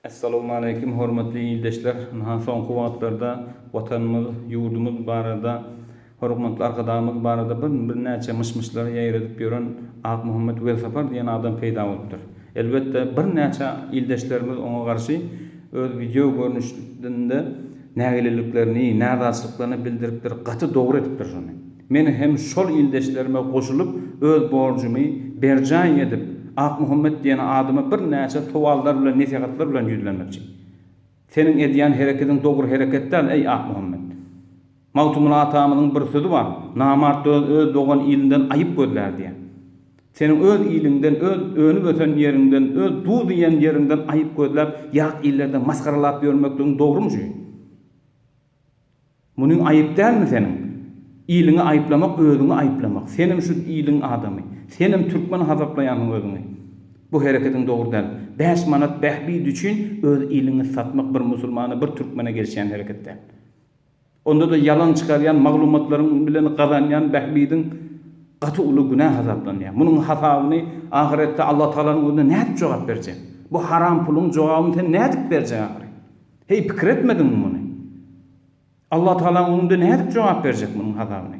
Essalowmaleýkim hormatly ildeşler! Ynha soňky wagtlarda Watanymyz, ýurdumyz barada, hormatly Arkadagymyz barada birnäçe myş-myşlary ýaýradyp ýören Akmuhammet Welsapar diýen adam peýda bolupdyr. Elbetde birnäçe ildeşlerimiz oňa garşy öz wideo görnüşinde nägileliklerini, närazyçlyklaryny bildiripdir, gaty dogry edipdir şony. Men hem şol ildeşlerime goşulyp, öz borjumy berjaý edip, Akmuhammet diýen adama birnäçe sowallar bilen, nesihatlar bilen ýüzlenmekçi. Seniň edýän herekediň dogry hereket däl, eý, Akmuhammet! Magtymguly atamyzyň bir sözi bar, Namart öz öz dogan ilinden aýyp gözlär diýen. Seniň öz iliňden, öz önüp-ösen ýeriňden, öz duz iýen ýeriňden aýyp gözläp, ýat illerde masgaralap ýörmekligiň dogrumy şu? Munyň aýyp dälmi seniň? Iliňi aýyplamak özüňi aýyplamak. Senem şu iliň adamy. Senem türkmen hasaplaýansyň özüňi. Bu hereketiň dogry däl. Bäş manat bähbidi üçin öz iliňi satmak bir musulmana bir türkmene gelişýän hereket däl. Onda-da ýalan çykarýan maglumatlaryň bilen gazanýan bähbidiň gaty uly günä hasaplanýar. Munyň hasabyny ahyretde Allatagalanyň özüne nädip jogap berjek? Bu haram puluň jogabyny sen nädip berjek ahyry? Heý, pikir etmediňmi muny? Allatagala öňüňde nädip jogap berjek munuň hasabyny?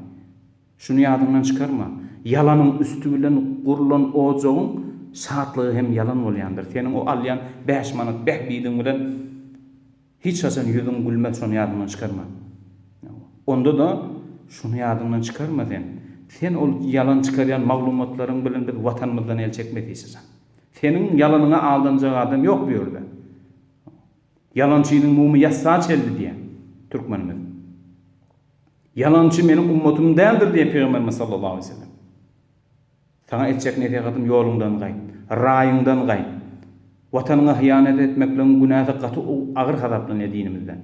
Şuny ýadyňdan çykarma, ýalanyň üsti bilen gurlan ojagyň şatlygy hem ýalan bolýandyr. Seniň o alýan bäş manat bähbidiň bilen hiç haçan ýüzüň gülmez, şony ýadyňdan çykarma. Onda-da şuny ýadyňdan çykarma sen, sen ol ýalan çykarýan maglumatlaryň bilen biz Watanymyzdan el çekmezisizam. Seniň ýalanyňa aldanjak adam ýok bu ýerde. Ýalançynyň mumy ýassa çeldi diýen türkmenimiz. Ýalançy meniň ummatym däldir diýen Pygamberimiz sallallahu aleýhi we sellem. Saňa etjek nesihatym ýoluňdan gaýt. Raýyňdan gaýt. Watanyňa hyýanat etmekligiň günäsi gaty agyr hasaplanýar dinimizde.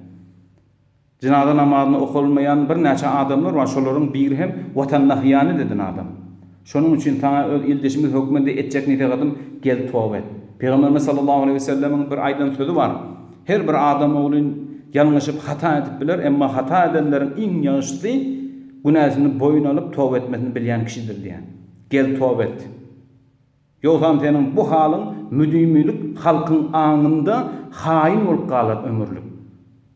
Jynaza namazyny okalmaýan birnäçe adamlar bar, şolaryň biri hem Watanyna hyýanet eden adam. Şonuň üçin saňa öz ildeşimiz hökmünde etjek nesehatym, gel toba et. Pygamberimiz sallallahu aleýhi wesellemiň bir aýdan sözi bar, Her bir adam ogly ýalňyşyp, hata edip biler, emma hata edenleriň iň ýagşysy günäsini boýun alyp, toba etmesini bilýän kişidir diýýär. Gel toba et. Ýogsam seniň bu halyň müdimilik halkyň aňynda haýyn bolup galar ömürlik.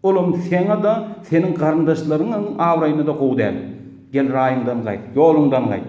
Olam seňa-da, seniň garyndaşlaryňyň abraýyna-da gowy däl. Gel raýyňdan gaýt, ýoluňdan gaýt.